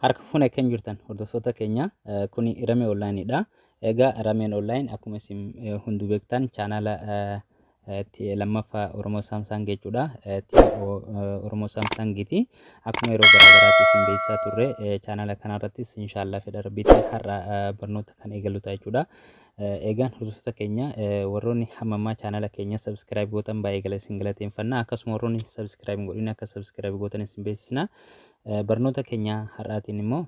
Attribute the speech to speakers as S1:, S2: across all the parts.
S1: Harka fuune kan jirtan hordoftoota keenya kuni Ramee Online'dha. Egaa Rameen Online akkuma isin hunduu beektan chaanaala lammaffaa Oromoo Saamsaang jechuudha. TO Oromoo Saamsaangiiti. Akkuma yeroo garaagaraatti isin beeksisaa turre chaanala kanarrattis inshaallah fedha rabbiitiin har'a barnoota kan eegalu ta'a jechuudha. Egaan hordoftoota keenya warroonni hamma ammaa chaanala keenya sabiskiraayib gootan baay'ee gala isin galateeffanna. Akkasuma warroonni sabiskiraayib hin godhin akka sabiskiraayib gootan isin beeksisna. Barnoota keenya har'aatiin immoo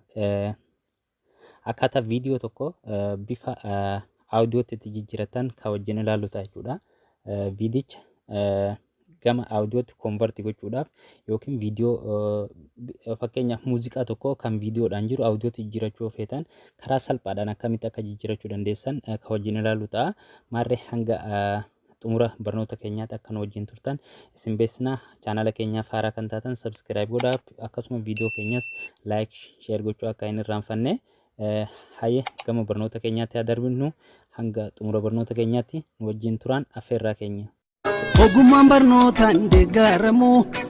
S1: Akkaataa viidiyoo tokko eh, bifa eh, audiootti itti jijjiiratan kan wajjin ilaallu ta'a jechuudha. Eh, Viidicha eh, gama audiootti convert gochuudhaaf yookiin viidiyoo eh, bi- eh, fakkeenyaaf muuziqaa tokko kan viidiyoodhaan jiru audiootti jijjiirachuu yoo feetan karaa salphaadhaan akkamitti akka jijjiirachuu dandeessan eh, kan wajjin ilaallu ta'a. Maarree hanga eh, xumura barnoota keenyaatti akka nu wajjin turtan isin beeksisna. Chaanala keenyaaf haaraa kan taatan subscribe godhaa akkasuma viidiyoo keenyas like share gochuu akka hin irraanfanne. Eh, Hayyee gama barnoota keenyaatti haa darbinu hanga xumura barnoota keenyaatti nu wajjin turaan affeerraa keenya. Ogummaan
S2: barnootaan deeggaramu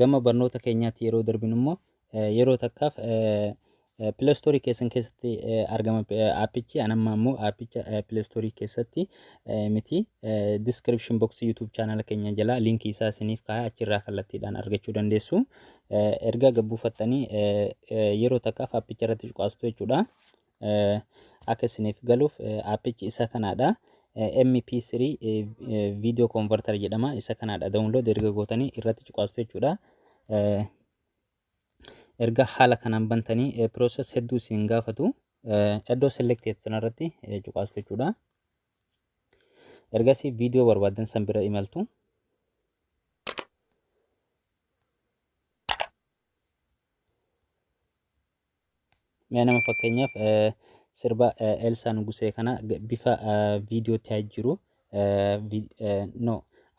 S2: Gama
S1: barnoota keenyaatti yeroo darbinu immoo yeroo takkaaf pileestoorii keessan keessatti argama aappichi an amma immoo aappicha pileestoorii keessatti miti diskiripshin boksii yuutuub chaanala keenya jalaa liinkii isaa isiniif kaa'e achirraa kallattiidhaan argachuu dandeessu erga gabbuufattanii yeroo takkaaf aappicha irratti cuqaastu jechuudha. akka isiniif galuuf appichi isa kanaadha. MP3 video converter jedhama isa kanaadha download erga gootanii irratti cuqaastu jechuudha. Erga haala kanaan bantanii process hedduu isin gaafatu iddoo selected sanarratti cuqaastu jechuudha. Ergasii video barbaadan san bira imaltu. Mee nama fakkeenyaaf eh, sirba eh, Elsaa Nugusee kana g- bifa eh, viidiyoo ta'ee jiru eh, vi- eh, no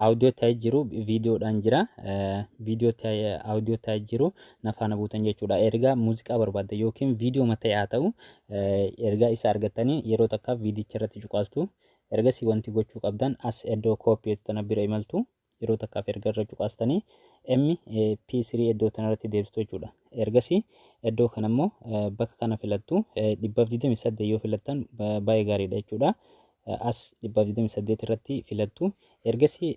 S1: audio ta'ee jiru viidiyoodhaan jira eh, viidiyoo ta'ee audio ta'ee jiru na faana buutan jechuudha ergaa muuziqaa barbaadda yookiin viidiyoo mata'ee haa ta'u eh, ergaa isa argattanii yeroo takka viidiyicha irratti cuqaastu ergasii wanti gochuu qabdan as iddoo kooppiyeetu tana bira imaltu yeroo takkaaf erga irra cuqaastanii MP3 iddoo tanarratti deebistu jechuudha. Ergasii iddoo kana immoo bakka kana filattu 128 yoo filattan baay'ee gaariidha jechuudha. As 128 irratti filattu. Ergasii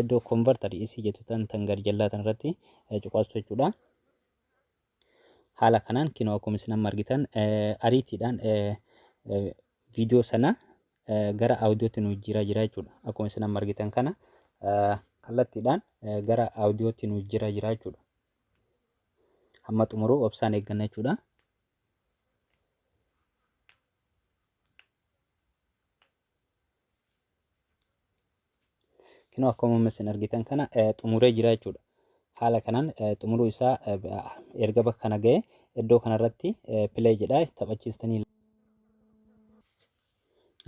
S1: iddoo konvartar isii jettu tan tan gad jallaa tanarratti cuqaastu jechuudha. Haala kanaan kinoo akkuma isin amma argitan ariitiidhaan viidiyoo sana gara audiootti nu jijjiiraa jira jechuudha. Akkuma isin amma argitan kana kallattiidhaan gara audiootti nu jijjiiraa jira jechuudha. Hamma xumuruu obsaan eegganna jechuudha. Kinoo akkuma amma isin argitan kana eh, xumuree jira jechuudha. Haala kanaan eh, xumuruu isaa eh, b- ah, erga bakka kana ga'e iddoo kanarratti eh, play jedhaa taphachiistanii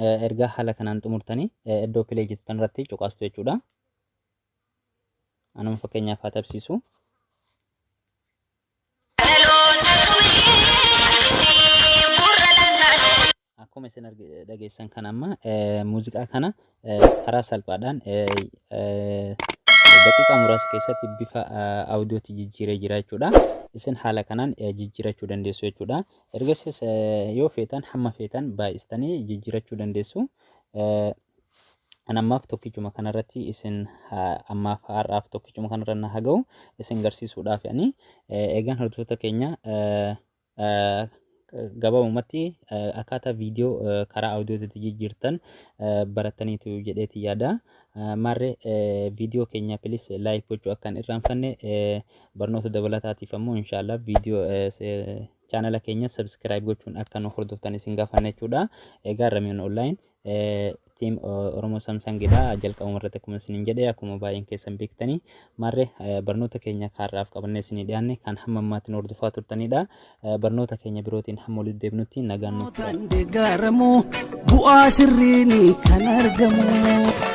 S1: eh, erga haala kanaan xumurtanii eh, iddoo play jettu tanarratti cuqaastu jechuudha. Anuma fakkeenyaaf haa tapsiisu. Akkuma isin argi- dhageessan kan amma eh, muuziqaa kana eh, karaa salphaadhaan eh, eh, daqiiqaa muraasa keessatti bifa eh, audiootti jijjiiree jira jechuudha. Isin haala kanaan eh, jijjiirachuu dandeessu jechuudha. Ergasiis eh, yoo feetan hamma feetan baay'istanii jijjiirachuu dandeessu. Eh, An ammaaf tokkichuma kanarratti isin ammaaf har'aaf tokkichuma kanarra na haa ga'u isin garsiisuudhaaf ani eegaan hordoftoota keenya gabaabumatti akkaataa viidiyoo karaa audiootitti jijjiirtan barattaniitu jedheeti yaada. Maarree viidiyoo keenya pilis laayik gochuu akka hin irraanfanne barnoota dabalataatiif ammoo inshaallah viidiyoo chaanala keenya sabskiraayib gochuun akka nu hordoftan isin gaafanna jechuudha. Egaa Ramiyoon Online Team Oromoo Samsung dha. Jalqabuma irratti akkuma isiniin jedhe akkuma baay'een keessan beektanii maarree barnoota keenya kaarraaf qabannee isinii dhiyaanne kan hamma ammaatti nu hordofaa turtanidha. Barnoota keenya birootiin hamma walitti deebinutti nagaan nuuf Kan deeggaramu
S2: bu'aa sirriin kan argamu.